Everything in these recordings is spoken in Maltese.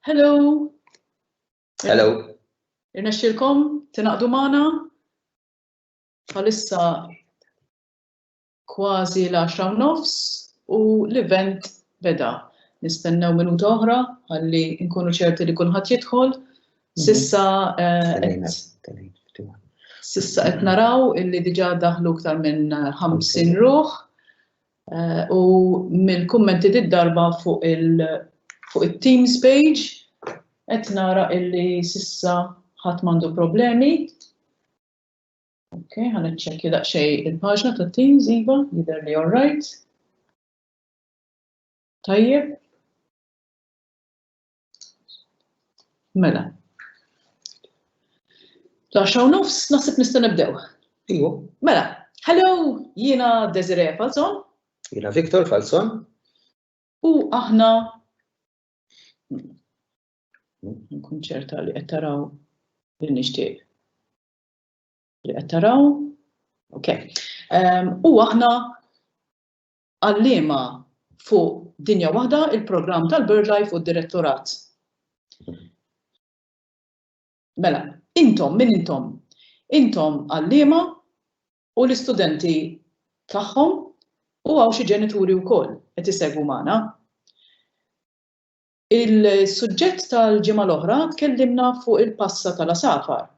Hello. Hello. Irnexxilkom tinaqdu magħna bħalissa kważi l-10 nofs u l-event beda. Nistennew minuta oħra ħalli nkunu ċerti li kulħadd jidħol Sissa Sissa qed naraw illi diġà daħlu iktar minn 50 ruħ u mill-kummenti di darba fuq it-Teams page qed nara illi sissa ħadd m'għandu problemi. Ok, ħa niċċekkja daqsxejn il-paġna tat-Teams iva, jidher li all right. Tajjeb. Mela. La xaw nofs nasib nista' nibdew. Ijo. Mela, hello, jiena Desiree Falzon. Jiena Victor Falzon. U aħna nkun ċerta li qed taraw li nixtieq. Li qed taraw. Ok. Ehm, u aħna Għalliema fuq Dinja Waħda, il-Programm tal-BirdLife u d-Direttorat. Mela, intom, min intom? Intom għalliema u l-istudenti tagħhom u hawn xi ġenituri wkoll qed isegwu magħna. Il-suġġett tal-ġimgħa l-oħra tkellimna fuq il-passa tal-għasafar.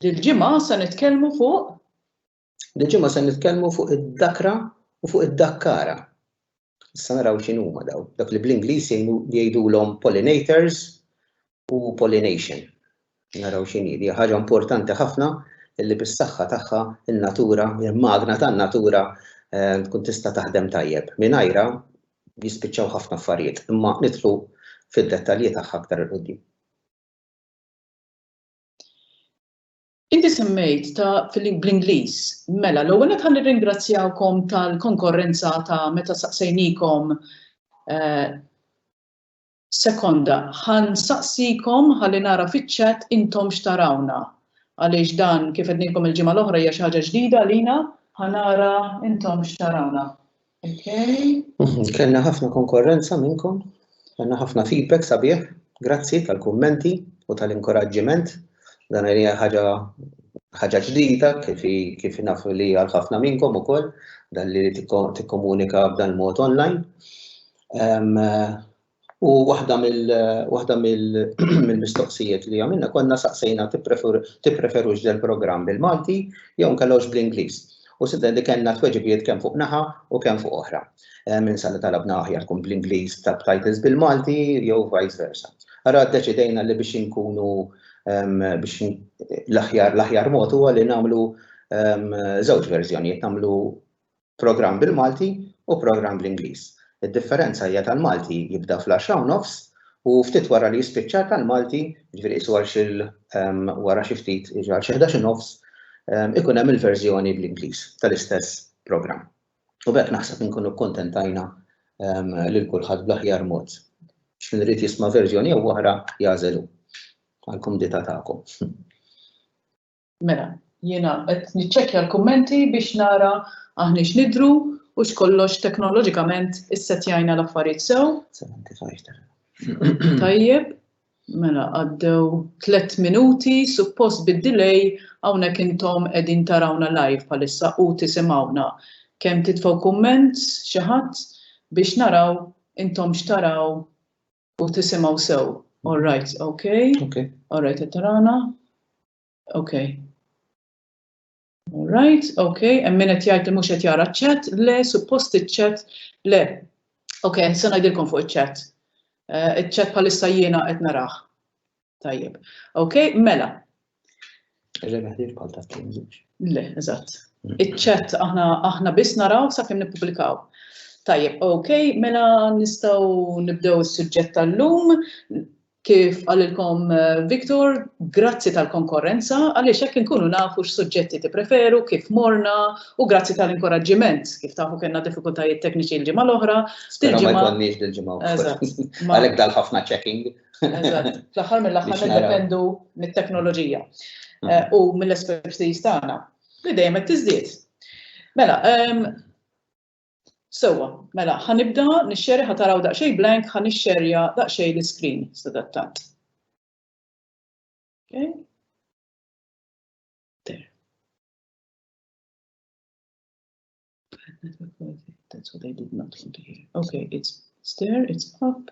Dil-ġimgħa se nitkellmu fuq Dil-ġimgħa se nitkellmu fuq id-dakra u fuq id-dakkara. Issa naraw x'in huma daw, dak li bl-Ingliż jgħidulhom pollinators u pollination. Naraw x'in hi, ħaġa importanti ħafna illi bis-saħħa tagħha in-natura, il-magna tan-natura eh, tkun tista' taħdem tajjeb. Mingħajra jispiċċaw ħafna affarijiet, imma nidħlu fid-dettalji tagħha aktar il-qudiem. Inti semmejt ta' bl-Ingliż. Mela, l-ewwel nett ħa nirringrazzjawkom tal-konkorrenza ta' meta saqsejniekom sekonda ħa nsaqsikom ħalli nara fiċ-chat intom x'tarawna għaliex dan kif għednilkom il-ġimgħa l-oħra hija xi ħaġa ġdida għalina. Ħa nara intom x'tarawna. Okay. Mhm, kellna ħafna konkorrenza minnkom, kellna ħafna feedback sabiħ, grazzi tal-kummenti u tal-inkoraġġiment. Dan hija ħaġa ħaġa ġdida kif kif naf li għal ħafna minnkom ukoll dan li tikkomunika b'dan mod online. U waħda mill waħda mill-mistoqsijiet li għamilna konna saqsejna tippreferux del programm bil-Malti jew nkellgħux bl-Ingliż. U sidda li kellna tweġibiet kemm fuq naħa u kemm fuq oħra. Eh, minn sa li talabna aħjar tkun bl-Ingliż ta' titles bil-Malti jew vice versa. Ara deċidejna li biex inkunu biex l-aħjar l-aħjar mod huwa li nagħmlu żewġ verżjonijiet nagħmlu programm bil-Malti u programm bl-Ingliż. Id-differenza hija tal-Malti jibda fl-għaxra u nofs u ftit wara li jispiċċa tal-Malti, jiġifieri qisu għal xi wara xi ftit, jiġifieri għal xi ħdax u nofs, ikun hemm il-verżjoni bl-Ingliż tal-istess programm. U b'hekk naħseb inkunu kkuntentajna lil kulħadd bl-aħjar mod. X'min irid jisma' verżjoni jew oħra jagħżel hu għall-kumdità tagħkom. Mela, jiena qed niċċekkja l-kummenti biex nara aħniex nidhru u x'kollox teknoloġikament issettjajna l-affarijiet sew. 75 ta' Tajjeb, mela għaddew tliet minuti, suppost bid-delay hawnhekk intom qegħdin tarawna live bħalissa u tisimgħuna. Kemm titfgħu kumment xi ħadd biex naraw intom x'taraw U tisimgħu sew. All right, ok. Ok. All right, qed tarana. Ok. All right, ok. Hemm min qed jgħid li mhux qed jara ċ-chat, le suppost iċ-chat le. Ok, se ngħidilkom fuq iċ-chat. Eh, Iċ-chat bħalissa jiena qed narah. Tajjeb. Ok, mela. Rebeħ li bħal ta' tinġiġ. Le, eżatt. Mm. Iċċet aħna aħna biss naraw sa kemm nippubblikaw. Tajjeb, ok, mela nistgħu nibdew is-suġġett tal-lum kif għalilkom eh, Viktor, grazzi tal-konkorrenza, għaliex hekk inkunu nafu x'suġġetti tippreferu, kif morna, u grazzi tal-inkoraġġiment, kif tafu kellna diffikultajiet tekniċi l-ġimgħa l-oħra. Dil-ġimgħa. Għalhekk dal-ħafna checking. Eżatt. Fl-aħħar mill-aħħar niddependu mit-teknoloġija mm. eh, u mill-espertiż tagħna li dejjem qed tiżdied. Mela, ehm, sewwa, mela, ħanibda nixxeri ħataraw daqsxejn blank ħa nixxerja daqsxejn l-iskrin sadattant. Okay. That's what I did not want to hear. Okay, it's there, it's up.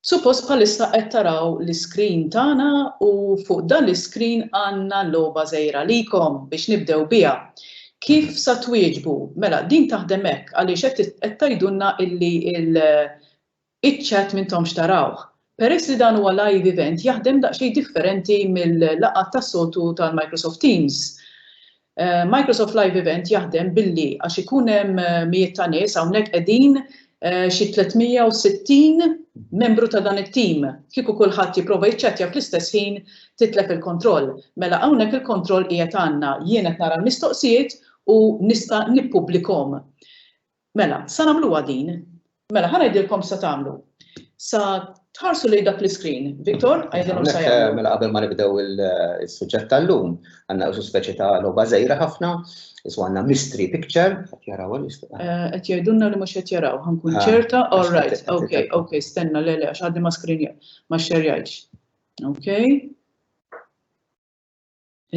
Suppost bħalissa qed taraw l-iscreen tagħna u fuq dan l-iscreen għandna logħba żgħira għalikom biex nibdew biha. Kif sa twieġbu? Mela din taħdem hekk għaliex qed qed tgħidulna illi il iċ-chat m'intomx tarawh. Peress li dan huwa live event jaħdem daqsxejn differenti mill-laqgħat tas-soltu tal-Microsoft Teams. Microsoft Live Event jaħdem billi għax ikun hemm mijiet ta' nies hawnhekk qegħdin xi 360 membru ta' dan it-tim. Kieku kulħadd jipprova jiċċattja fl-istess ħin titlef il-kontroll. Mela hawnhekk il-kontroll qiegħed għandna. Jien qed nara l-mistoqsijiet u nista' nippubblikhom. Mela, sa nagħmluha din. Mela, ħa ngħidilkom x'sa tagħmlu. Sa tħarsu lejn dak l-iskrin. Victor, għidilhom x'sa jagħmlu. Mela qabel ma nibdew is-suġġett tal-lum, għandna usu speċi ta' logħba żgħira ħafna, iswa għandna mystery picture, qed jaraw għal Qed jgħidulna li mhux qed jaraw, ħankun ċerta, all right, ok, ok, stenna le le għax għaddi ma screen ma xxerjajtx. Ok.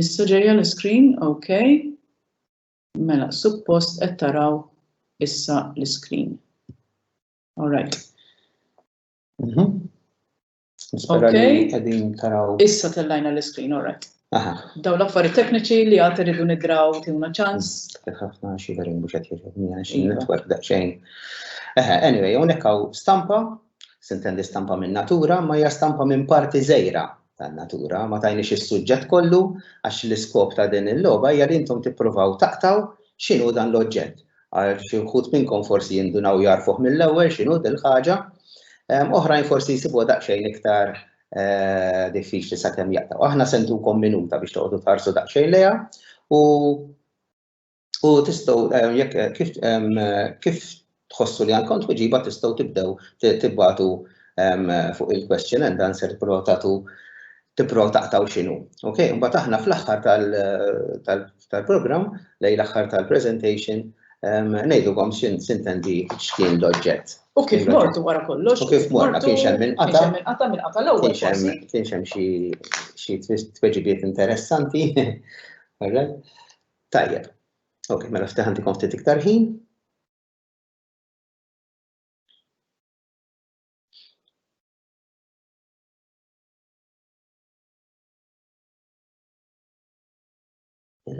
Issa ġejja l-iskrin, ok. Mela, suppost qed taraw issa l-iskrin. All right. Mhm. Nispera li Okay. qegħdin taraw. Issa tellajna l-iskrin, all right. Aha, Daw l-affarijiet tekniċi li għad irridu nidraw tiwna ċans. kif ħafna xi verin mhux qed jogħġobni għax Iva. netwerk daqsxejn. Eħe, anyway, hawnhekk hawn stampa, sintendi stampa minn natura, ma hija stampa minn parti żejra tan-natura. Ma tajniex is-suġġett kollu għax l-iskop ta' din il-logħba hija li intom tippruvaw taqtgħu x'inhu dan l-oġġett. Għal xi wħud minnkom forsi jindunaw jarfuh mill-ewwel x'inhu din il-ħaġa, ehm, oħrajn forsi jsibuha daqsxejn iktar eh, diffiċli sakemm jaqtgħu. Aħna sentukom minuta biex toqgħodu tarsu daqsxejn lejha u U tistgħu eh, jekk eh, kif eh, kif tħossu li għandkom tweġiba tistgħu tibdew tibbatu fuq il-question and answer tipprova tagħtu tipprova taqtaw x'inhu. Ok, mbagħad aħna fl-aħħar tal-programm lejn l-aħħar tal-presentation ngħidulkom x'in sintendi x'kien l-oġġett. U kif mortu wara kollox? U kif mortu kien xem minn qata? Kien xem minn qata minn qata l-ewwel. Kien xem xi tweġibiet interessanti. Tajjeb. Ok, mela ftaħan tikom ftit iktar ħin.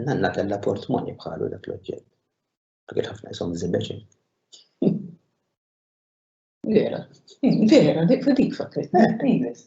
Nanna kella portmoni bħalu dak l-oġġett. Għagħet ħafna jisom zimbeċi. Vera, vera, dik dik fakkret, dik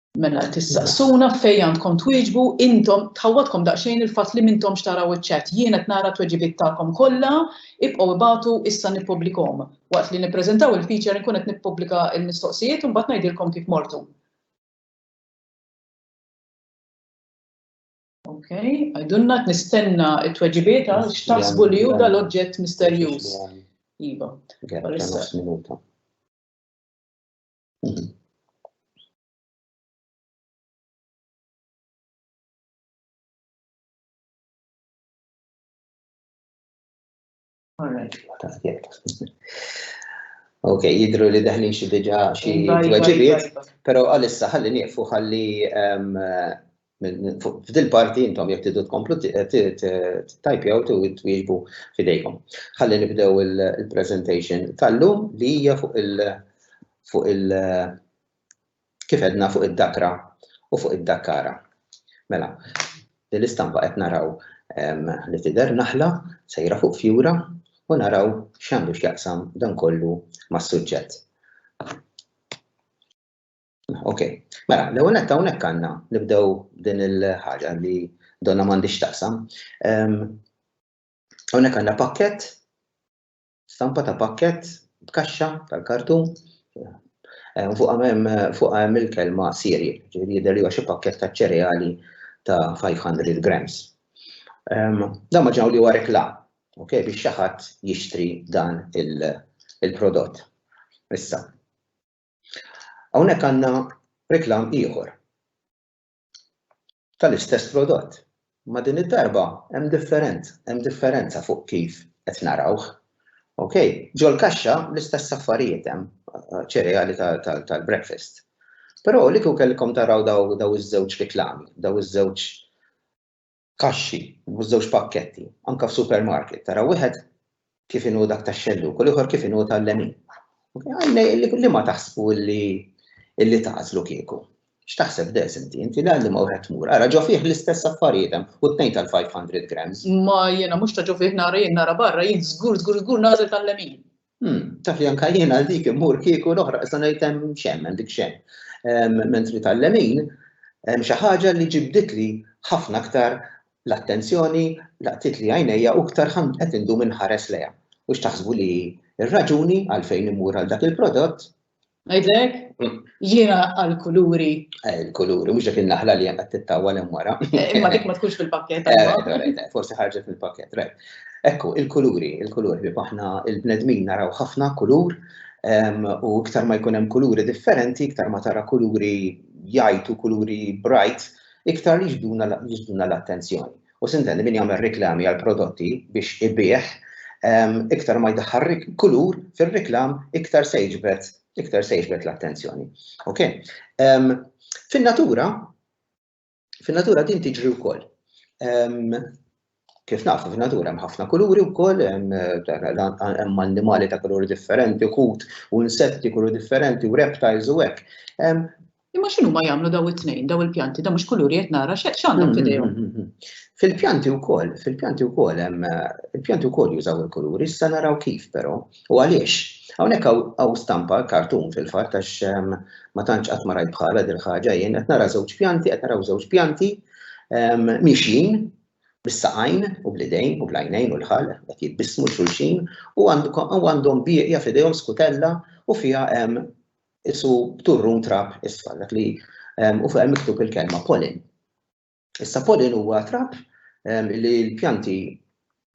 Mela tistaqsuna fej għandkom twieġbu intom tħawwadkom daqsxejn il-fatt li m'intomx taraw iċ-chat. Jien qed nara t-tweġibiet tagħkom kollha, ibqgħu ibagħtu issa nippublikhom. Waqt li nippreżentaw il-feature inkun qed nippubblika l-mistoqsijiet u mbagħad ngħidilkom kif mortu. Okay, għidulna qed nistenna t-tweġibiet għal x'taħsbu li hu dal-oġġett misterjuż. Iva. Minuta. Ok, jidru li daħlin xi diġa xi tweġibiet, pero għalissa ħalli nieqfu ħalli F'dil parti intom jekk tridu tkomplu ttajpjaw twieġbu f'idejkom. Ħalli nibdew il-presentation tal-lum li hija fuq il- fuq il- kif għedna fuq id-dakra u fuq id-dakkara. Mela, din l-istampa qed naraw li tidher naħla sejra fuq fjura u naraw x'għandu x'jaqsam dan kollu mas-suġġett. Ok, mela, l ewwel netta hawnhekk għandna nibdew din il-ħaġa li donna m'għandix taqsam. Ehm, hawnhekk għandna pakket, stampa ta' pakket b'kaxxa tal-kartun. Ehm, fuq hemm il-kelma siri, ġifieri jidher li xi pakket ta' ċereali ta' 500 grams. Ehm, dan ma ġew li huwa rekla, ok, biex xi ħadd jixtri dan il-prodott. Issa, Hawnhekk għandna reklam ieħor tal-istess prodott. Ma din id-darba hemm different, hemm differenza fuq kif qed narawh. Ok, ġol kaxxa l-istess affarijiet hemm eh, ċereali tal-breakfast. Però li kieku kellkom taraw daw iż-żewġ reklami, daw iż-żewġ kaxxi, mhux żewġ pakketti, anke f'supermarket, tara wieħed kif inhu dak tax-xellug u l-ieħor kif inhu tal-lemin. Li ma taħsbu li li tagħżlu kieku. X'taħseb des inti, inti li għalli ma wieħed tmur, ara ġo fih l-istess affarijiet hemm u tnejn tal-500 grams. Ma jiena mhux ta' ġo fih nara jien nara barra jien żgur żgur żgur nagħżel tal-lemin. Hm, taf li anka jien għal dik immur kieku l-oħra issa ngħid hemm xemm, hemm dik xemm. Ehm, mentri tal-lemin, hemm xi ħaġa li ġibdit li ħafna aktar l-attenzjoni laqtit li għajnejja u aktar qed indum inħares lejha. U x'taħsbu li r-raġuni għalfejn immur għal dak il-prodott Għidlek, jiena għal-kuluri. Eh, il-kuluri, mux dak il-naħla li għanqat t-tawa l wara. Eh, imma dik ma tkunx fil-pakket. Eh, forse ħarġet fil-pakket, right. Ekku, il-kuluri, il-kuluri, aħna il-bnedmin naraw ħafna kulur, u iktar ma jkun hemm kuluri differenti, iktar ma tara kuluri jajtu, kuluri bright, iktar jiġduna l-attenzjoni. U sintendi min jagħmel riklami għal prodotti biex ibigħ iktar ma jdaħħal kulur fir-riklam iktar se jiġbed iktar se jiġbed l-attenzjoni. Ok? Fin-natura fin-natura din tiġri wkoll. Kif nafu fin-natura hemm ħafna kuluri wkoll, hemm annimali ta' kuluri differenti, kut u insetti kuluri differenti u reptiles u hekk. Imma x'inhuma jagħmlu daw it-tnejn, daw il-pjanti, da mhux kuluri qed nara x'għandhom f'idejhom. Mm, mm, mm, fil-pjanti wkoll, fil-pjanti wkoll hemm il-pjanti wkoll jużaw il-kuluri, issa naraw kif però u għaliex. Hawnhekk hawn stampa kartun fil-fatt għax ehm, ma tantx qatt ma rajt bħala dil ħaġa jien qed nara żewġ pjanti, qed naraw żewġ pjanti ehm, mixin bis-saqajn u bl-idejn u bl-għajnejn u l-ħal qed jitbissmu xulxin u għandhom bieqja f'idejhom skutella u fiha hemm ehm, isu b'turrun trab isfar, dak li u fuq miktub il-kelma pollen. Issa pollen huwa trab li l-pjanti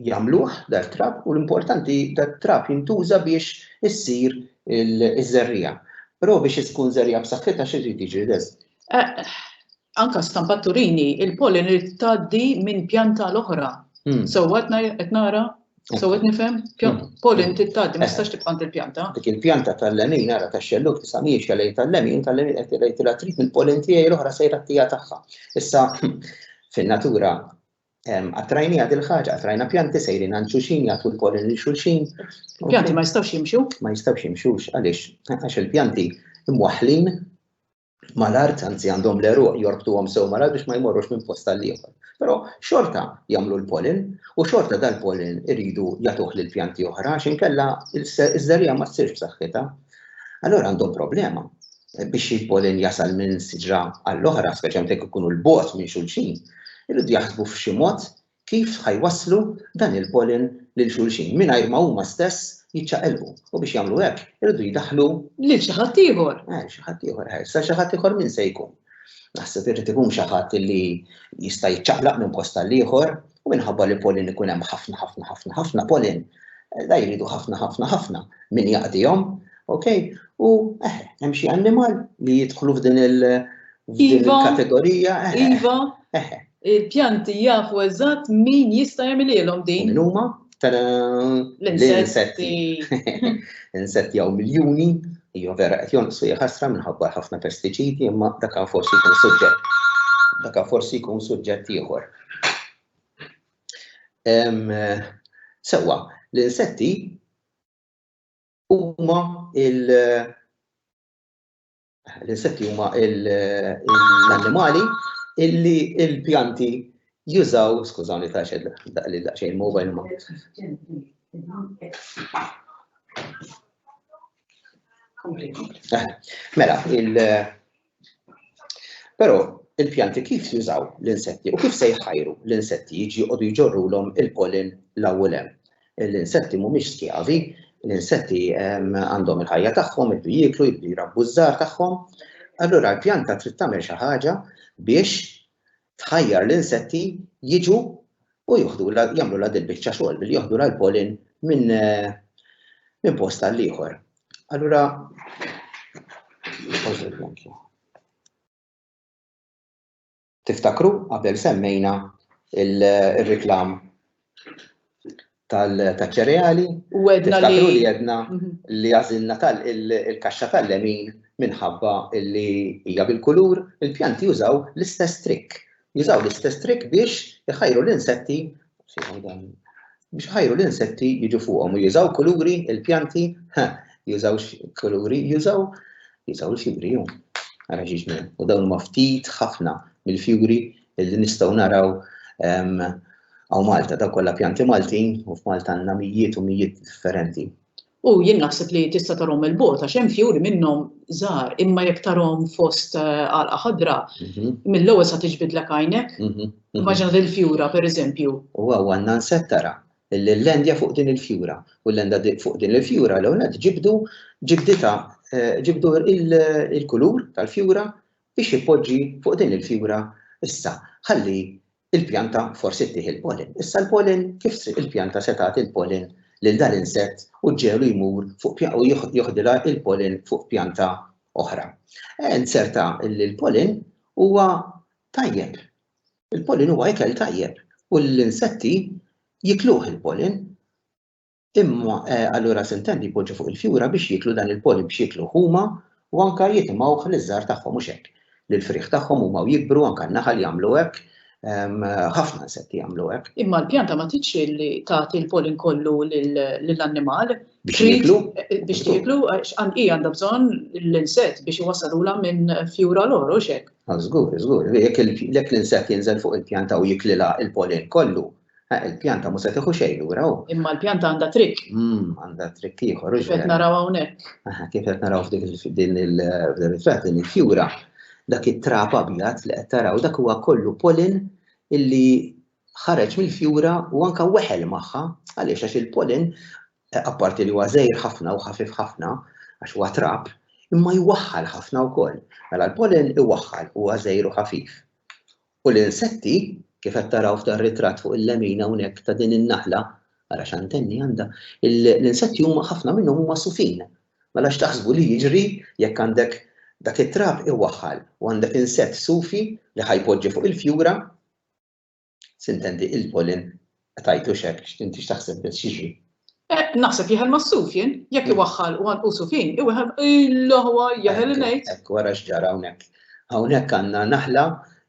jagħmluh dar trab u l-importanti dar trab jintuża biex issir iż-żerrija. Però biex tkun żerrija b'saħħitha xi jrid jiġi deż. Anka stampa turini il-pollen irid tgħaddi minn pjanta l-oħra. Sewwa qed nara? So qed nifhem? Hmm. Pol inti tgħaddi ma eh. tistax tibqa' il-pjanta. Dik il-pjanta tal-lemin ara tax-xelluk tisa' mhijiex għalej tal-lemin, tal-lemin qed tgħid tilha trid mill-polin tiegħi l-oħra sejra tija tagħha. Issa fin-natura Għattrajni għad il-ħagġa, għattrajna pjanti sejrin għan xulxin, jgħatu l-polin li xulxin. Pjanti ma jistawx jimxu? Ma jistawx jimxux, għalix, għax il-pjanti imwaħlin mal-art, anzi għandhom l-eruq jorbtuhom sew mal-art biex ma jmorrux minn post għal ieħor. Però xorta jagħmlu l-pollen u xorta dal-pollen iridu jagħtuh lil pjanti oħra għax inkella iż-żerriegħa ma ssirx b'saħħitha. Allora għandhom problema biex il-pollen jasal minn siġra għall-oħra, speċjalment jekk ikunu l-bot minn xulxin, irridu jaħsbu f'xi mod kif ħa jwasslu dan il-pollen lil xulxin mingħajr ma huma stess jiċċaqilqu u biex jagħmlu hekk iridu jdaħħlu. Lil xi ħadd ieħor. Lil xi ħadd ieħor. Issa xi ħadd ieħor min se jkun? Naħseb irid ikun xi ħadd li jista' jiċċaqlaq minn post għal ieħor u minħabba li pollen ikun hemm ħafna ħafna ħafna ħafna pollen da jridu ħafna ħafna ħafna min jaqdihom, ok? U eh, hemm xi annimal li jidħlu f'din il- Iva. kategorija. Eh, eh. Iva. Eh, Il-pjanti jafu eżatt min jista' jagħmililhom din. Min huma? L-insetti. L-insetti hawn miljuni, hija vera qed jonqsu ħasra minħabba ħafna pestiċidi imma dak forsi jkun suġġett. Dak forsi jkun suġġett ieħor. Sewwa, l-insetti huma il- L-insetti huma l-annimali illi l-pjanti jużaw, skużawni ta' xed li daqsxejn mobile ma. Mela, il però il-pjanti kif jużaw l-insetti u kif se jħajru l-insetti jiġi jqogħdu jġorrulhom il-pollen l-awwel hemm. L-insetti mhumiex skjavi, l-insetti għandhom il-ħajja tagħhom, jibdu jieklu, jibdu jrabbu ż-żgħar tagħhom. Allura l-pjanta trid tagħmel xi ħaġa biex tħajjar l-insetti jiġu u jieħdu jagħmlu la dil-biċċa xogħol billi joħdu l-pollen minn minn post għal ieħor. Allura Tiftakru qabel semmejna r-reklam taċ-ċereali? U għedna li. Tiftakru li għedna li għażilna il-kaxxa tal-lemin minħabba li hija bil-kulur? Il-pjanti jużaw l-istess trikk. Jużaw l-istess trikk biex iħajru l-insetti biex iħajru l-insetti jiġu fuqhom u jużaw kuluri il-pjanti, ha, jużaw kuluri, jużaw, jużaw il-fjuri jew. Ara ġiġna, u dawn huma ftit ħafna mill-fjuri li nistgħu naraw għaw Malta, daw kollha pjanti Maltin u f'Malta għandna mijiet u mijiet differenti. U jien naħseb li tista' tarhom mill-bogħod għax hemm fjuri minnhom żgħar, imma jekk tarhom fost għalqa ħadra, mill-ewwel sa tiġbidlek għajnek. Immaġina din il-fjura pereżempju. U hawn għandna nsett tara l-lendja fuq din il-fjura. U l-lenda fuq din il-fjura l ewwel ġibdu ġibdita ġibdu il-kulur tal-fjura biex jippoġġi fuq din il-fjura issa ħalli Il-pjanta forsi ttih il-pollen. Issa l-pollen kif se il-pjanta se tagħti l-pollen lil dan l-insett u ġġegħlu jmur fuq pja u jieħ jieħdilha l-pollen fuq pjanta oħra. Eh, nzerta li l-pollen huwa tajjeb. Il-pollen huwa ikel tajjeb u l-insetti jikluh il-pollen. Imma allura sintendi jpoġġu fuq il-fjura biex jieklu dan il-pollen biex jiekluh huma u anke jitimgħuh liż-żgħar tagħhom mhux hekk. Lill-frieħ tagħhom huma u jikbru anke n-naħal jagħmlu hekk, ħafna insetti jagħmlu hekk. Imma l-pjanta ma tridx li tagħti l-pollen kollu lill-annimal. Biex jieklu? Biex jieklu għax hi għandha bżonn l-insett biex iwassalulha minn fjura l oħra hux hekk? Żgur, żgur. Jekk l-insett jinżel fuq il-pjanta u jiklilha l-pollen kollu, Eh, il-pjanta mhux se tieħu xejn lura hu. Imma l-pjanta għandha trikk. Mm, għandha trikk ieħor. Kif qed naraw hawnhekk. Eh, kif qed naraw f'dik din il-riflett din il-fjura, dak it-trap abjad li qed taraw dak huwa kollu polin illi ħareġ mill-fjura u anka weħel magħha għaliex għax il-polin eh, apparti li huwa żejr ħafna u ħafif ħafna għax huwa trap, imma jwaħħal ħafna wkoll. Mela l-polin iwaħħal huwa żejr u ħafif. U l-insetti, kif qed taraw f'dan ritratt fuq il-lemin hawnhekk ta' din in-naħla, ara x'antenni għandha, l-insetti huma ħafna minnhom huma sufin. Mela x'taħsbu li jiġri jekk għandek dak it-trab iwaħħal u għandek insett sufi li ħa jpoġġi fuq il-fjura? Sintendi il-pollen Qtajtux hekk, inti x'taħseb biss x'jiġri? Naħseb jeħel mas-suf jien, jekk iwaħħal u għanqusu fin, iweħel il-ħwa jeħel ngħid. Hekk wara x'ġara hawnhekk. Hawnhekk għandna naħla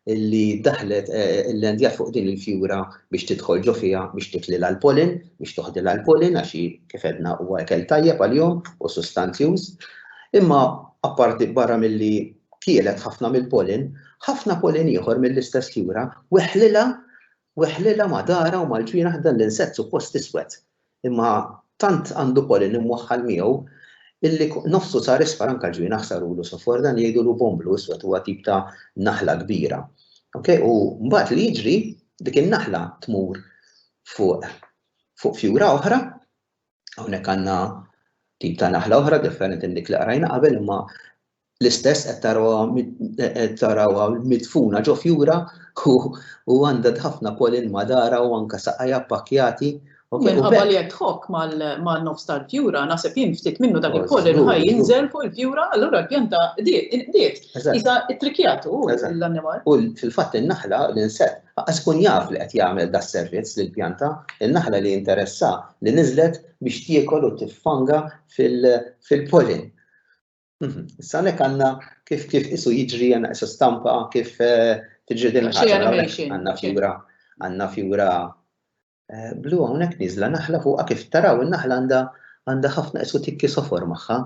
li daħlet l-endjat fuq din il-fjura biex tidħol ġo fiha biex titlilha l-polin, biex toħdilha l-polin għax kif edna huwa ekel tajjeb għalihom u sustanzjuż. Imma apparti barra milli kielet ħafna mill-polin, ħafna polin ieħor mill-istess fjura weħlilha Weħħlilha ma' daharha u mal-ġwienaħ dan l-insett suppost iswed, imma tant għandu pollen imwaħħal miegħu illi nofsu sar isfar anke l-ġwienaħ sarulu sofor, dan jgħidulu bomblu iswed huwa tip ta' naħla kbira. Ok, u mbagħad li jiġri dik in-naħla tmur fuq fuq fjura oħra, hawnhekk għandna tip ta' naħla oħra differenti minn dik li qrajna qabel imma L-istess qed tarawha qed tarawha midfuna ġo fjura u u għandha ħafna pollen madara u anke saqajha ppakkjati. Minħabba li qed tħokk man-nofs tal-fjura, naħseb jien ftit minnu dak il-pollen ħa jinżel fuq il-fjura, allura l-pjanta qdiet, inqdiet. Qisha ttrikkjat hu l-annimal. U fil-fatt in-naħla, l-insett, lanqas ikun jaf li qed jagħmel das-servizz lill-pjanta. In-naħla li interessha li niżlet biex tiekol u tiffanga fil-pollen. Mhm. Issa għanek għanna kif kif isu jiġri għanna isu stampa kif eh, tiġri din għanna fjura għanna fjura eh, blu għonek nizla naħla fuqa kif taraw naħla għanda għanda ħafna isu tikki sofor maħħa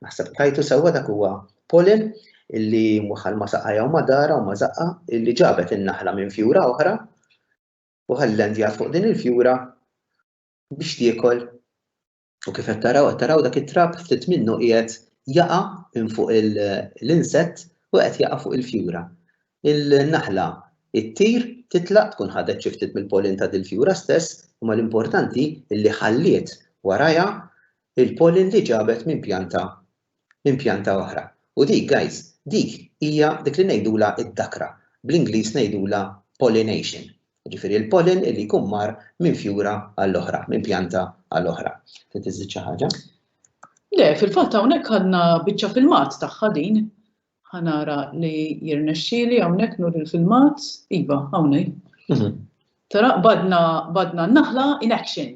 naħseb tajtu sewa dak huwa polin illi muħal ma saqajja u madara u ma zaqqa illi ġabet in-naħla minn fjura oħra u ħallendja fuq din il-fjura biex tiekol U kif qed taraw, qed taraw dak it-trab ftit minnu qiegħed jaqa' minn fuq l-insett u qed jaqa' fuq il-fjura. Il-naħla ttir, titlaq, tkun ħadet xi ftit mill-pollen ta' dil-fjura stess, imma l-importanti li ħalliet warajha l-pollen li ġabet minn pjanta minn pjanta oħra. U dik, guys, dik hija dik li ngħidulha d-dakra, bl-Ingliż ngħidulha pollination, jiġifieri l-pollen li jkun mar minn fjura għal oħra, minn pjanta għal oħra. Trid iżżid xi ħaġa? Le, fil-fatt hawnhekk għandna biċċa filmat tagħha din. Ħa nara li jirnexxieli hawnhekk nuri l-filmat. Iva, hawn hi. Mhm. Tara, badna, badna n-naħla in action.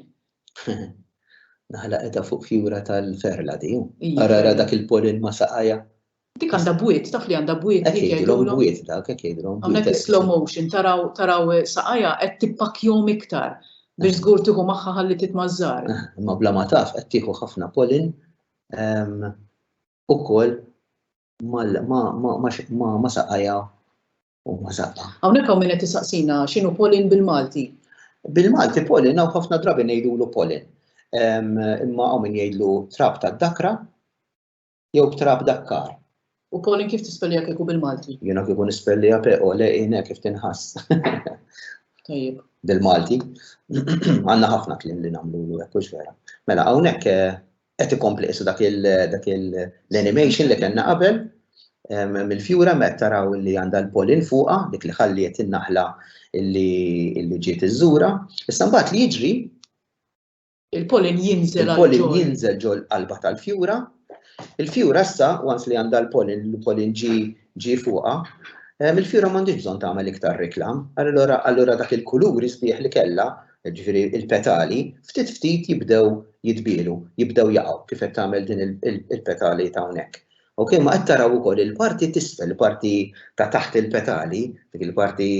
Naħla qeda fuq fjura tal-ferla di. Ara ara dak il-polin ma saqajha. Dik għandha bwiet, taf li għandha bwiet. Hekk jgħidulhom bwiet dak, hekk jgħidulhom. Hawnhekk is-slow motion taraw taraw saqajha qed tippakjhom iktar biex żgur tieħu magħha ħalli titmażżar. Imma bla ma taf qed tieħu ħafna polin ukoll ma saqajha u mażaqqa. Hawnhekk hawn min qed isaqsina x'inhu polin bil-Malti. Bil-Malti polin hawn ħafna drabi ngħidulu polin. Imma hawn min jgħidlu trab tad-dakra jew trab dakkar. U polin kif tispellija kieku bil-Malti? Jiena kieku nispellija pe u le jiena kif tinħass. Tajjeb. Bil-Malti. Għandna ħafna kliem li nagħmlu hekk vera. Mela hawnhekk eh, qed ikompli qisu dak l-animation li kellna qabel mill-fjura meta taraw li għandha l-polin fuqha dik li ħalliet in-naħla li ġiet iżżura. Issa mbagħad li jiġri il-polin jinżel il-polin jinżel ġol qalba tal-fjura. Il-fjura issa once li għandha l-polin l-polin ġi fuqha il-fjura m'għandix bżonn tagħmel iktar reklam. Allura dak il-kuluri sbieħ li kellha jiġifieri l-petali, ftit ftit jibdew jitbielu, jibdew jaqgħu kif qed tagħmel din il-petali ta' hawnhekk. Ok, ma qed taraw ukoll il-parti t'isfel, il-parti ta' taħt il-petali, dik il-parti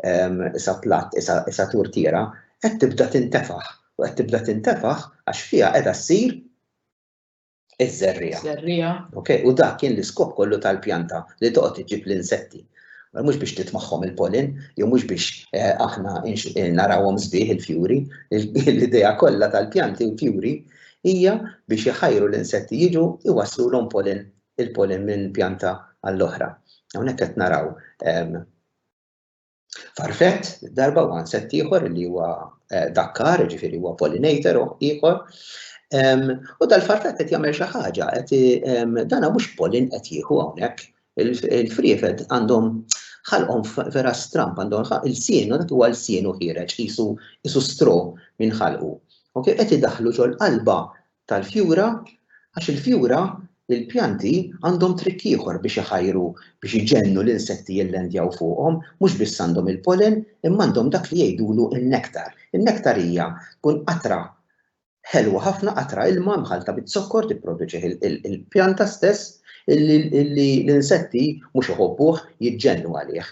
ehm, isa platt, isa turtiera, qed tibda tintefaħ u qed tibda tintefaħ għax fiha qiegħda ssir Iż-żerriegħa. Żerriegħa. Ok, u dak kien l-iskop kollu tal-pjanta li toqgħod iġib l-insetti. Mhux biex titmaħħom il-pollen, jew mhux biex eh, aħna eh, narawhom sbieħ il-fjuri, l-idea kollha tal-pjanti u l-fjuri hija biex iħajru l-insetti jiġu iwasslu l pollen il-pollen minn pjanta għall-oħra. Hawnhekk qed naraw ehm, Farfet, darba u għanset ieħor li huwa eh, dakkar, ġifiri huwa pollinator ieħor. U dal-farfet qed jagħmel xi ħaġa, qed dana mhux polin qed jieħu hawnhekk. Il-friefed għandhom ħalqhom vera stramp għandhom il-sienu dak huwa l-sienu ħireġ qisu stro minn ħalqu. Ok, qed idaħlu ġol qalba tal-fjura għax il-fjura, il-pjanti għandhom trikk ieħor biex iħajru, biex iġennu l-insetti jillandjaw fuqhom, mhux biss għandhom il-pollen imma għandhom dak li jgħidulu n-nektar. In-nektar hija tkun qatra ħelwa ħafna, qatra ilma mħallta biz-zokkor tipproduċih il-pjanta stess li l-insetti mhux iħobbuh, jiġġennu għalih.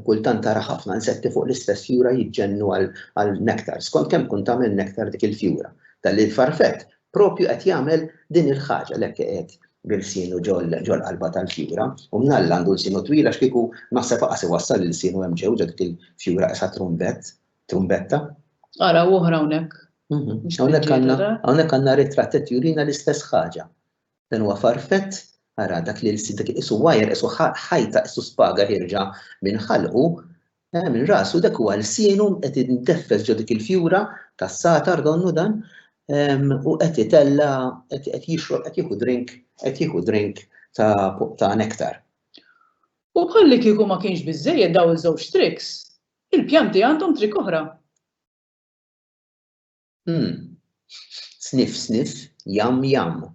Kultant tara ħafna insetti fuq l-istess fjura jiġġennu għal nektar, skont kemm tkun tagħmel nektar dik il-fjura. Dan li l-farfett propju qed jagħmel din il-ħaġa l-hekk iqiegħed bil-sienu ġol-qalba tal-fjura u mnalla għandu l-sienu twil għax kieku naħseb aqas iwassal il-sienu hemm ġew ġo dik il-fjura qisha trumbett, trumbetta. Ara oħra hawnhekk. Hawnhekk għandna ritratt qed jurina l-istess ħaġa. Dan huwa farfett ara dak li l-sid dak iqisu wire isu ħajta isu spaga ħirġa minn ħalqu Mela minn rasu dak huwa lsienu qed inteffes ġo dik il-fjura tas-satar donnu dan u qed itella qed jixrob qed jieħu drink qed jieħu drink ta' nektar. U bħalli kieku ma kienx biżżejjed dawn iż-żewġ tricks, il-pjanti għandhom trick oħra. Umm. Sniff sniff, yum yum.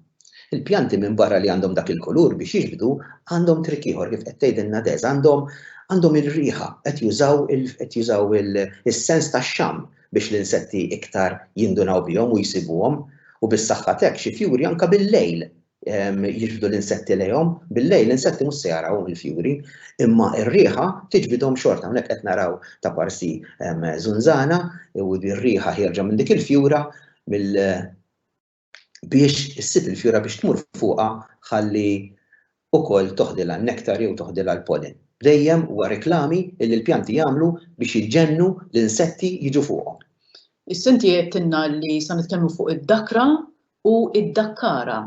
Il-pjanti minbarra li għandhom dak il-kulur biex jiġbdu, għandhom trick ieħor kif qed tgħidilna Des, għandhom għandhom ir-riħa, qed jużaw il qed jużaw il is-sens tax-xamm biex l-insetti iktar jindunaw bihom u jsibuhom u bis-saħħa t'hekk xi fjuri anke bil-lejl jiġbdu l-insetti lejhom, bil-lejl l-insetti mhux se jaraw il-fjuri, imma r-riħa tiġbidhom xorta. Hawnhekk qed naraw ta' parsi żunżana u r-riħa ħierġa minn dik il-fjura biex issib il-fjura biex tmur fuqha ħalli wkoll toħdilha n-nektar jew toħdilha l-pollen. Dejjem huwa reklami li l-pjanti jagħmlu biex jġennu l-insetti jiġu fuqhom. Issa inti għedtilna li se nitkellmu fuq id-dakra u d-Dakkara.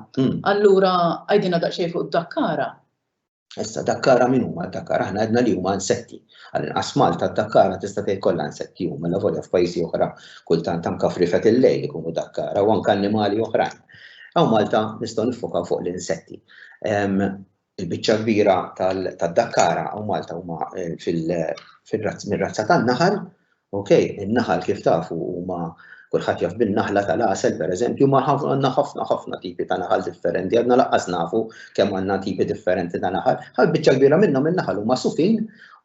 Allura għidilna daqsxejn fuq id-Dakkara. Issa dakkara min huma dakkara aħna għedna li huma insetti. Għal-inqas Malta dakkara tista' tgħid kollha insetti huma mela volja f'pajjiżi oħra kultant anke frifet il-lejl ikunu dakkara u anke annimali oħrajn. Hawn Malta nistgħu niffokaw fuq l-insetti. Il-biċċa l-kbira tad-dakkara u Malta huma mir-razza tan-naħal. Ok, in-naħal kif tafu huma kulħadd jaf bin-naħla tal-għasel pereżempju, ma għandna ħafna ħafna tipi ta' naħal differenti, għadna lanqas nafu kemm għandna tipi differenti ta' naħal. Ħal biċċa kbira minnhom in-naħal huma sufin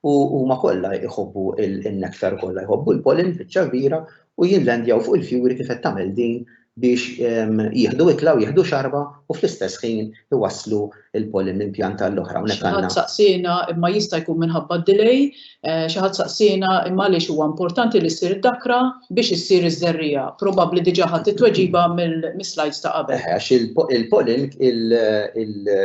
u huma kollha jħobbu n-nektar kollha, jħobbu l-pollen biċċa kbira u jillandjaw fuq il-fjuri kif qed tagħmel din biex jieħdu ikla u jieħdu xarba u fl-istess ħin iwasslu l-pollen minn pjanta għall-oħra. Xi ħadd saqsiena imma jista' jkun minħabba d-delay, xi ħadd saqsiena imma għaliex huwa importanti li ssir id-dakra biex issir iż-żerriegħa. Probabbli diġà ħadt it-tweġiba mis-slides ta' qabel. Eħe, għax il-pollen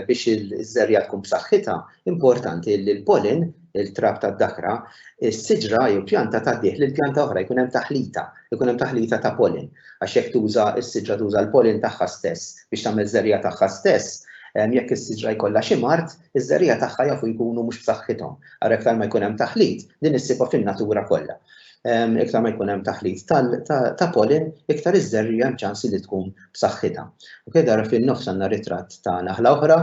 biex iż-żerriegħa tkun b'saħħitha, importanti li l-pollen il-trab tad-dakra, is-siġra jew pjanta tgħaddih lil pjanta oħra jkun hemm taħlita, jkun hemm taħlita ta' pollen. Għax jekk tuża s-siġra tuża l-pollen tagħha stess biex tagħmel żerriegħa tagħha stess, jekk is-siġra jkollha xi mard, iż-żerriegħa tagħha jafu jkunu mhux b'saħħithom. Ara iktar ma jkun hemm taħlit, din issibha fin-natura kollha. Iktar ma jkun hemm taħlit ta' pollen, iktar iż-żerriegħa hemm ċans li tkun b'saħħitha. Ok, dara fin-nofs għandna ritratt ta' naħla oħra,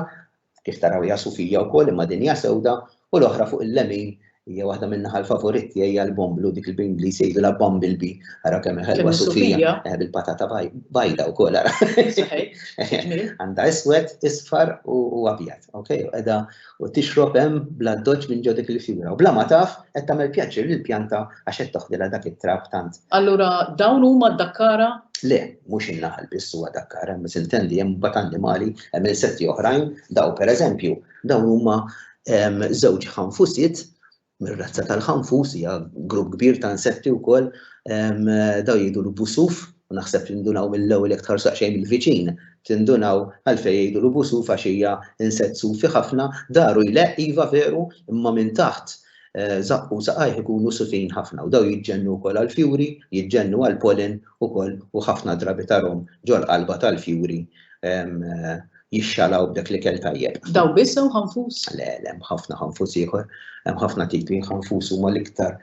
Kif taraw hija sufija wkoll imma din hija sewda u l-oħra fuq il-lemin hija waħda min-naħa l-favurit tiegħi hija l-bomblu dik li bl-Ingliż jgħidulha bumble bee ara kemm hi ħelwa sufija bil-patata bajda wkoll ara. Għandha iswed, isfar u abjad, okej, u qiegħda u tixrob hemm bl-addoċċ minn ġo dik il-fjura u bla ma taf qed tagħmel pjaċir lill-pjanta Għax qed toħdilha dak it-trab tant. Allura dawn huma d-dakkara? Le, mhux in-naħal biss huwa dakkara, imma sintendi hemm mbagħad annimali, hemm insetti oħrajn, daw pereżempju, dawn huma ehm, żewġ ħanfusiet mir-razza tal-ħanfus hija grupp kbir ta' insetti wkoll ehm, daw jgħidu l-busuf u naħseb tindunaw mill-ewwel jekk tħarsu xejn mill-viċin, tindunaw għalfejn jgħidu l-busu faxija insett sufi ħafna, daru jleq iva veru imma minn taħt żaqqu u saqajh ikunu sufin ħafna u dawn jiġġennu wkoll għall-fjuri, jiġġennu għall-pollen ukoll u ħafna drabi tarhom ġol-qalba tal-fjuri jixxalaw b'dak l-ikel tajjeb. Dawn biss jew ħanfus? Le, le, hemm ħafna ħanfus ieħor, hemm ħafna tipi, ħanfus huma l-iktar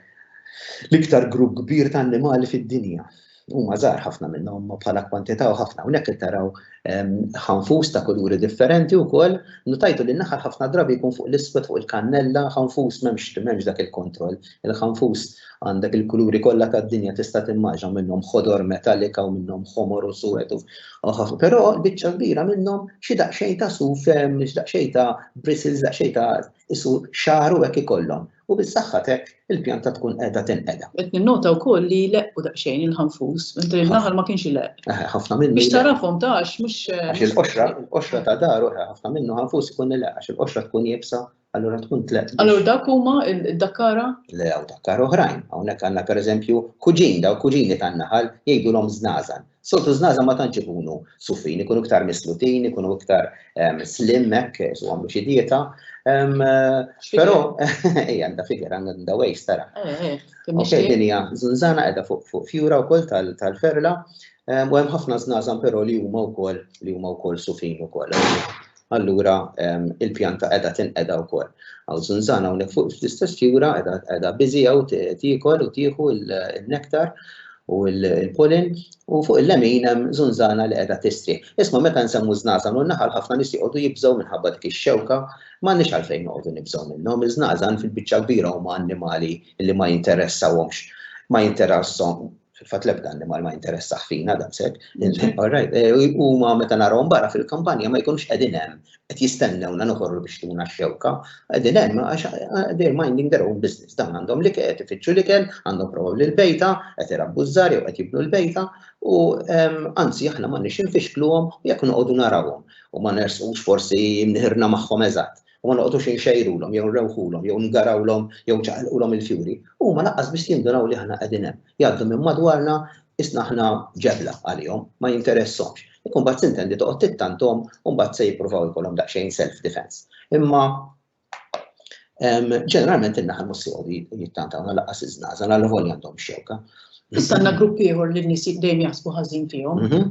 l-iktar grupp kbir ta' annimali fid-dinja. Huma żgħar ħafna minnhom bħala kwantità u ħafna hawnhekk qed taraw ehm, ħanfus ta' kuluri differenti wkoll, nutajtu li naħal ħafna drabi jkun fuq l-iswed fuq il-kannella, ħanfus m'hemmx m'hemmx dak il-kontroll. Il-ħanfus għandek il-kuluri kollha tad-dinja tista' timmaġa minnhom ħodor metallika u minnhom ħomor u suwed u però biċċa kbira minnhom xi daqsxejn ta' suf, ehm, xi daqsxejn ta' bristles, daqsxejn ta' isu xaru hekk ikollhom. U biex saħħat hekk il-pjanta tkun qiegħda tinqeda. Qed ninnota wkoll li jleqqu daqsxejn il-ħanfus, mentri l-naħal ma kienx ileqq. Eħe, ħafna minnu. Biex tarafhom ta' għax mhux. Għax il-qoxra, il-qoxra ta' daru, eħe, ħafna minnu ħanfus ikun ileqq għax il-qoxra tkun iebsa, allura tkun tleqq. Allura dak huma d-dakkara? Le, hawn dakkara oħrajn. Hawnhekk għandna pereżempju kuġin, daw kuġini tan-naħal jgħidulhom żnażan. Soltu żnaza ma tantx ikunu sufin, ikunu iktar mislutin, ikunu iktar ehm, slim hekk, su għamlu xi dieta. Ehm, però ej għandha figer għandha wejs tara. Eh, eh, ok, din hija żunżana qiegħda fuq fjura wkoll tal-ferla. Ehm, u hemm ħafna żnażan però li huma wkoll li huma wkoll sufin ukoll. allura il-pjanta qiegħda tinqeda wkoll. Għaw zunzana hawnhekk fuq fl-istess fjura qiegħda biżi hawn tiekol u tieħu l-nektar u l-pollen u fuq il-lemin hemm zunzana li qiegħda tistri. Isma' meta nsemmu żnażan u naħal ħafna nies joqogħdu jibżgħu minħabba dik ix-xewka m'għandniex għalfejn noqogħdu nibżgħu minnhom. Iż-żnażan fil-biċċa kbira huma annimali li ma jinteressawhomx ma jinteressahom fil-fatt l-ebda annimal ma jinteressaħ fina daqshekk. Eh, huma meta narahom barra fil-kampanja ma jkunx qegħdin hemm qed jistennewna noħorru biex tuna x-xewka. Qegħdin hemm għax eh, they're minding their own business. Dan għandhom li qed ifittxu li kien, għandhom probabbli l-bejta, qed irabbu żżar jew qed jibnu l-bejta u ehm, anzi aħna ma nix infixkluhom jekk noqogħdu narawhom u ma nersqux forsi mniħirna magħhom eżatt. u ma noqgħodux inxejrulhom jew nrewħulhom jew ngarawlhom jew nċaqalqulhom il-fjuri, huma lanqas biss jindunaw li aħna qegħdin hemm. Jgħaddu minn madwarna qisna aħna ġebla għalihom, ma jinteressahomx. Jekk imbagħad tintendi toqgħod tittanthom u mbagħad se jippruvaw ikollhom daqsxejn self defense. Imma ġeneralment in-naħal mhux se jgħodu jittantawna lanqas iż-żnaża, għal volja għandhom xewka. Issa għandna grupp ieħor li n-nies dejjem jaħsbu ħażin fihom. Mhm.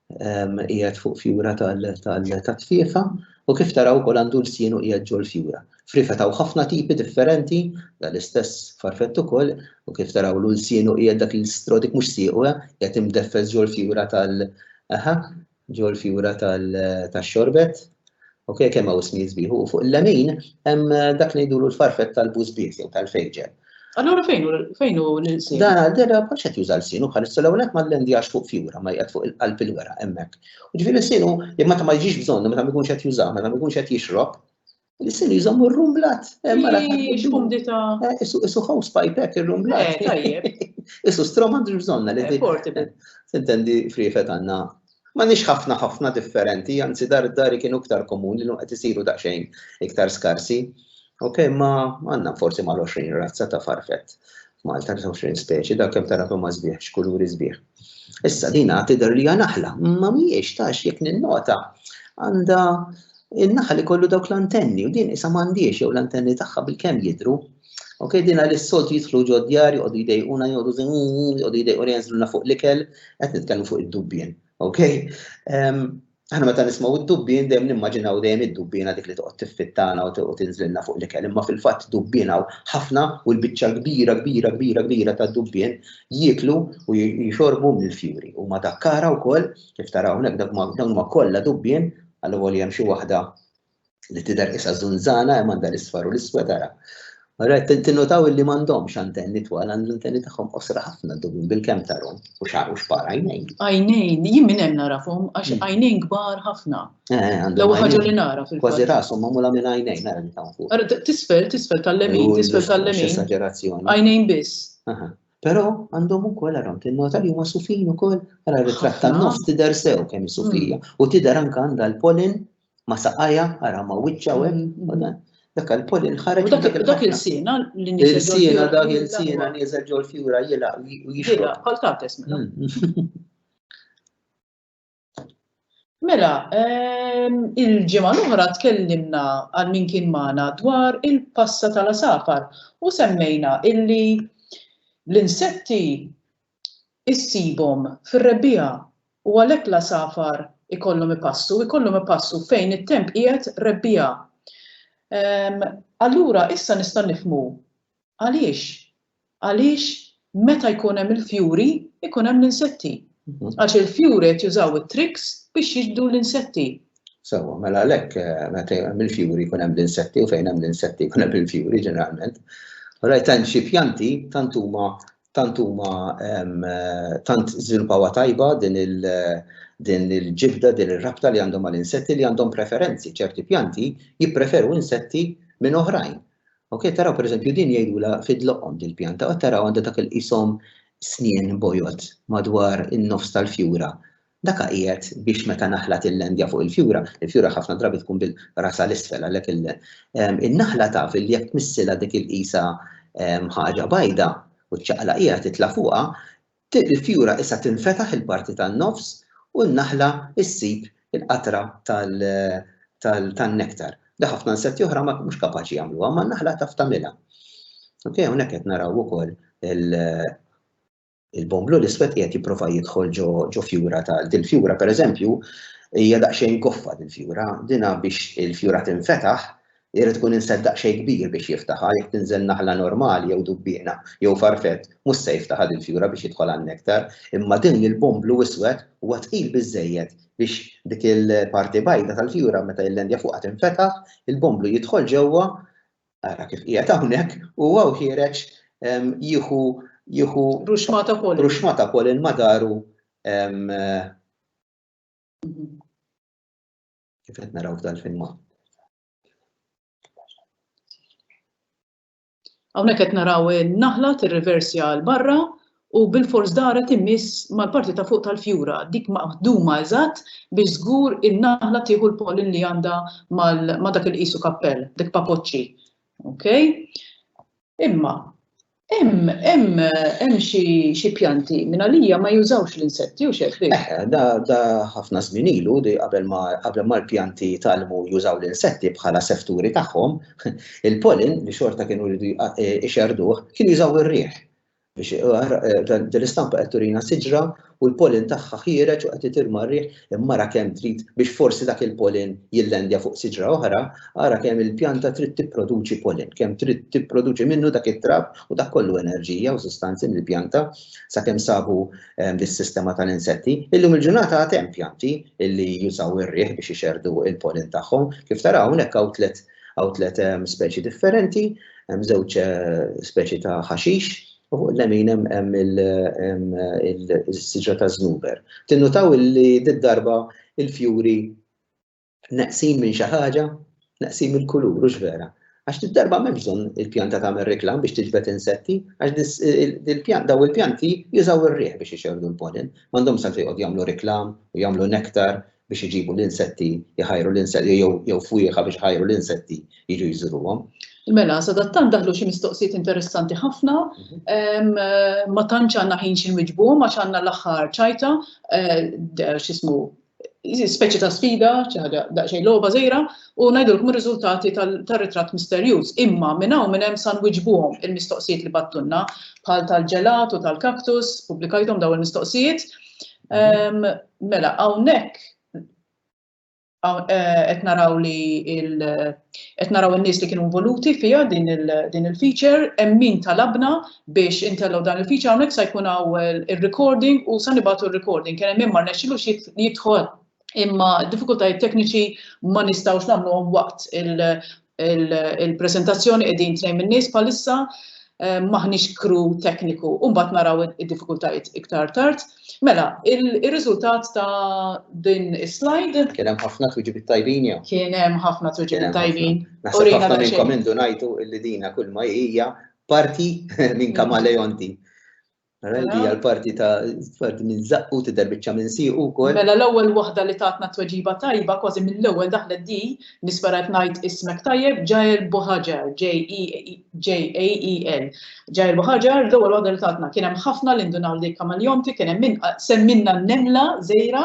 qiegħed fuq fjura tal-tfiefa u kif taraw ukoll għandu l-sienu qiegħed ġol fjura. Frifa taw ħafna tipi differenti, dal-istess farfett ukoll, u kif taraw l sienu qiegħed dak l-istrodik mhux siequ eh, qiegħed imdeffes ġol fjura tal- aha, ġol fjura tal-xorbet. Ok, kemm hawn ismijiet sbieħ, u fuq il-lemin hemm dak li ngħidulu l-farfett tal-bużbiet jew tal-fejġel. Allura fejn hu fejn hu l-insin? Da, dera ma xed juża l-sin, u bħalissa l-ewwel qed mal-lendjax fuq fjura ma jqed fuq il-qalb il-wera hemmhekk. U ġifieri l-sin hu li meta ma jġix bżonn, meta ma jkunx qed jużah, meta ma jkunx qed jixrob, l-sin jżomm ir-rumblat. X'kumdità. Isu house pipe hekk ir-rumblat. Isu strom għandu bżonna li. Portable. Tintendi friefet għandna M'għandniex ħafna ħafna differenti, anzi dar dari kienu iktar komuni llum qed isiru daqsxejn iktar skarsi. Ok, ma għandna forsi mal-20 razza ta' farfett. Malta 20 speċi, dak kemm tara kemm sbieħ, x'kuluri sbieħ. Issa din għad tidher li hija naħla, ma mhijiex tax jekk ninnota għandha in-naħal ikollu dawk l-antenni u din isa m'għandhiex jew l-antenni tagħha bilkemm jidhru. Ok, dina li s-soltu jitħlu ġo djar, joqdu jdejquna, joqdu joqdu jdejqu jenżluna fuq l-ikel, qed nitkellmu fuq id-dubbien. Ok? Aħna meta nismaw id-dubbien dejjem nimmaġinaw dejjem id-dubbiena dik li toqgħod tiffittana u tinżlilna fuq l-ikel, imma fil-fatt dubbien hawn ħafna u l-biċċa kbira kbira kbira kbira ta' dubbien jieklu u jixorbu mill-fjuri. U ma dakkara wkoll kif taraw hawnhekk dawn ma kollha dubbien għal hemm xi waħda li tidher qisha żunżana hemm għandha l-isfar u l-iswed ara. Ara tinnotaw illi m'għandhomx antenni twal għand l-antenni tagħhom qosra ħafna dubin bil-kemm tarhom u xar u xpar għajnejn. Għajnejn, jien minn hemm narafhom għax hmm. għajnejn kbar ħafna. Eh, eh, L-ewwel ħaġa li nara fil Kważi rashom magħmula minn għajnejn nara li tawn fuq. Ara tisfel, tisfel tal-lemin, tisfel tal-lemin. Esagerazzjoni. Għajnejn biss. Però għandhom ukoll għarom tinnota li huma sufin ukoll ara ritratt tan-nofs tidher sew kemm sufija hmm. u tidher anke għandha l-polin ma saqajja, ara ma wiċċa u hemm, mm, mm. dak il-polin ħareġ. Dak il-sina li niżel. Il-sina dak il-sina niżel ġol fjura jilaq u jixilaq. Bħal tates mela. Mm. Mela, ehm, il-ġimgħa l-oħra tkellimna għal min kien magħna dwar il-passa tal-asafar u semmejna illi l-insetti issibhom fir-rebbiegħa u għalhekk l-għasafar ikollhom ipassu, ikollhom ipassu fejn it-temp qiegħed rebbiegħa. Allura issa nista' nifhmu għaliex għaliex meta jkun hemm il-fjuri jkun hemm l-insetti. Mhm. Għax il-fjuri qed jużaw it-triks biex jiġdu l-insetti. Sewa, mela għalhekk eh, meta hemm il-fjuri jkun hemm l-insetti u fejn hemm l-insetti jkun hemm il-fjuri ġeneralment. Rajt hemm xi pjanti tant huma tant huma tant żviluppawha tajba din il din il-ġibda, din ir-rabta li għandhom għal insetti li għandhom preferenzi, ċerti pjanti jippreferu insetti minn oħrajn. Ok, taraw per eżempju din jgħidula fidloqhom din pjanta, u taraw għandha dak il-qishom snien bojod madwar in-nofs tal-fjura. Dak għajjet biex meta naħla tillendja fuq il-fjura, il-fjura ħafna drabi tkun bil rasha l-isfel għalhekk il in-naħla taf li jekk tmissilha dik il-qisha ħaġa bajda u ċċaqlaqhiha titla' fuqha, il-fjura issa tinfetaħ il-parti tan-nofs u n-naħla ssib il-qatra tal tal tan-nektar li ħafna insetti oħra ma mhux kapaċi jagħmluha imma n-naħla taf tagħmilha. Ok, hawnhekk qed naraw ukoll il il-bon blu l-iswed qiegħed jipprova jidħol ġo fjura ta' dil-fjura pereżempju hija daqsxejn goffa dil-fjura, dina biex il-fjura tinfetaħ irid tkun insett daqsxejn kbir biex jiftaħha, jekk tinżel naħla normali jew dubbiena jew farfett mhux se jiftaħha dil-fjura biex jidħol għan-nektar, imma din il-bon blu iswed huwa tqil biżżejjed biex dik il-parti bajda tal-fjura meta jillandja fuqha tinfetaħ, il-bon blu jidħol ġewwa ara kif qiegħed hawnhekk, u huwa wħiereġ jieħu jieħu ruxmata polin. Ruxmata polin madaru kif qed naraw f'dal-filma. Hawnhekk qed naraw in-naħla tirriversja l barra u bilfors daret in-nies mal-parti ta' fuq tal-fjura, dik maħduma eżatt biex żgur in-naħla tieħu l-pollen li għandha ma' dak li tqisu kappell, dik papoċċi. Okay? Imma hemm xi pjanti mingħalija ma jużawx l-insetti, hux hekk, Rick? Eħe, da ħafna żmien ilu li qabel ma l-pjanti jitgħallmu jużaw l-insetti bħala sefturi tagħhom, il-pollen li xorta kienu jridu jxerrduh kien jużaw ir-riħ. Biex din l-istampa qed turina siġra u l-pollen tagħha ħiereġ u qed itir mar-riħ, imma ara kemm trid biex forsi dak il-pollen jillandja fuq siġra oħra, ara kemm il-pjanta trid tipproduċi pollen, kemm trid tipproduċi minnu dak it-trab u dak kollu enerġija u sustanzi mill-pjanta sakemm sabu dis-sistema tal-insetti. Illum il-ġurnata għad hemm pjanti li jużaw ir-riħ biex ixerrdu l-pollen tagħhom. Kif taraw hawnhekk hawn tliet Hawn tliet ehm, speċi differenti, hemm żewġ eh, speċi ta' ħaxix, u fuq l-lemin hemm il-siġra ta' żnuber. Tinnutaw li d-darba il-fjuri naqsin minn xi ħaġa, naqsin mill-kulur, u vera. Għax d-darba m'hemm bżonn il-pjanta tagħmel reklam biex tiġbed insetti, għax daw il-pjanti jużaw ir-riħ biex ixerdu l-pollen, m'għandhom sa jqgħod jagħmlu reklam u jagħmlu nektar biex iġibu l-insetti jħajru l-insetti jew fwieħa biex iħajru l-insetti jiġu jżuruhom. Mela, sadattant daħlu xi mistoqsijiet interessanti ħafna, ma tantx għandna ħin xi nwiġbuhom għax għandna l-aħħar ċajta, eh, x'ismu speċi ta' sfida, ċaħġa daqxej loba zejra, u najdulkom il-rizultati tal-ritrat misterjuż. Imma minn hawn minn hemm san wiġbuhom il-mistoqsijiet li battunna bħal tal-ġelat u tal-kaktus, publikajtom daw il-mistoqsijiet. Mela, hawnhekk qed naraw li qed naraw in-nies li kienu involuti fiha din il-feature, hemm min talabna biex intellgħu dan il-feature hawnhekk se jkun hawn ir-recording u se nibagħtu r-recording. Kien hemm min ma rnexxilux jidħol imma d-diffikultajiet tekniċi ma nistgħux nagħmluhom waqt il-preżentazzjoni qegħdin tnejn min-nies bħalissa m'aħniex crew tekniku u mbagħad naraw id-diffikultajiet iktar tard. Mela, ir-riżultat ta' din is-slide. Kien hemm ħafna tweġibiet tajbin jew? Kien hemm ħafna tweġibiet tajbin. Naħseb ħafna minnkom indunajtu li dina kull ma hija parti minn kamaleonti. Mela li hija l-parti ta' parti minn zaqqu tidher biċċa minn siequ wkoll. Mela l-ewwel waħda li tatna t-tweġiba tajba kważi mill-ewwel daħlet di, nispera qed ngħid ismek tajjeb, Jael Bohajar, J-A-E-L. Jael Bohajar, l-ewwel waħda li tatna. Kien hemm ħafna li ndunaw li Kamaleonti, kien hemm min semmilna n-nemla żgħira.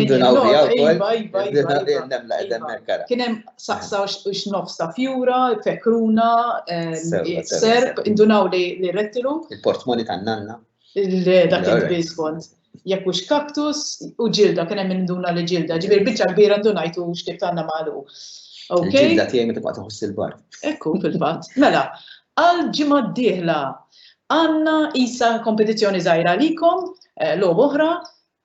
Ndunaw biha wkoll. Iva, iva, iva. Nemla qed hemmhekk ara. Kien hemm saqsaw x'nofs ta' fjura, fekruna, serb, indunaw li rettilu. Il-portmoni ta' nanna. Dak il-bisbont. Jekk hux kaktus u ġilda, kien hemm induna li ġilda, ġifier biċċa kbira ndunajtu x'tib ta' namalu. Ġilda tiegħi meta baqgħet iħoss il-bar. Ekku fil-fatt. Mela, għal ġimgħa d-dieħla għandna isa kompetizzjoni żgħira għalikom, logħba oħra,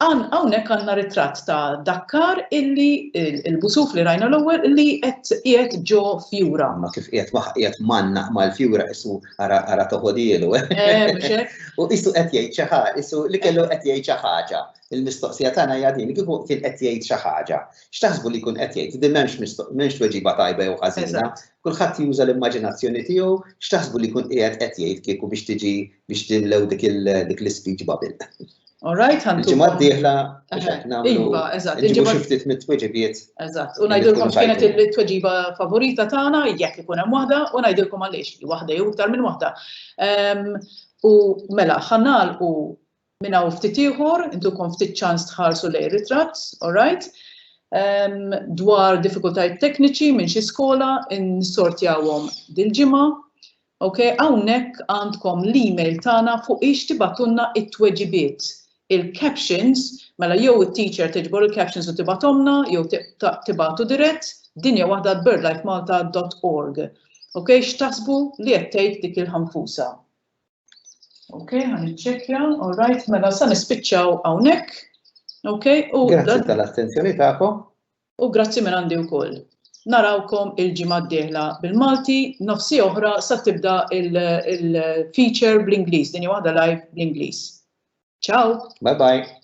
Hawnhekk għandna ritratt ta' dak kar illi il-busuf li rajna l-ewwel li qed qiegħed ġo fjura. Ma kif qiegħed ma qiegħed mgħannaq mal-fjura qisu ara ara toħodielu. U qisu qed jgħid xi ħaġa, qisu li kellu qed jgħid xi ħaġa. Il-mistoqsija tagħna hija din, kieku kien qed jgħid xi ħaġa, x'taħsbu li jkun qed jgħid? Din m'hemmx tweġiba tajba jew ħażina, kulħadd juża l-immaġinazzjoni tiegħu, x'taħsbu li jkun qiegħed qed jgħid kieku biex tiġi biex timlew dik l-ispeech bubble? All right, għandu. Ġimgħa d-dieħla nagħmlu. Iva, eżatt. Inġibu xi ftit mit-tweġibiet. Eżatt. U ngħidilkom x'kienet it-tweġiba favorita tagħna jekk ikun hemm waħda u ngħidilkom għaliex li waħda jew iktar minn waħda. Ehm, u mela ħanal u minn hawn ftit ieħor, intukom ftit ċans tħarsu lej ritratt, all right? Ehm, dwar diffikultajiet tekniċi minn xi skola, insortjawhom dil-ġimgħa Ok, hawnhekk għandkom l-email tagħna fuq ix tibgħatulna t-tweġibiet. Il-captions, mela jew it-teacher tiġbor il-captions u tibgħathomlna jew tibgħatu dirett, din hija waħda għal birdlifemalta dot org. Ok, x'taħsbu li qed tgħid dik il-ħanfusa? Ok, ħa niċċekkja, all right, mela sa nispiċċaw hawnhekk. Ok, u. Grazzi tal-attenzjoni tagħkom. u grazzi minn għandi wkoll. Narawkom il-ġimgħa d-dieħla bil-Malti, nofsi oħra sa tibda il-feature bl-Ingliż, din hija waħda live bl-Ingliż. Ciao! Bye bye!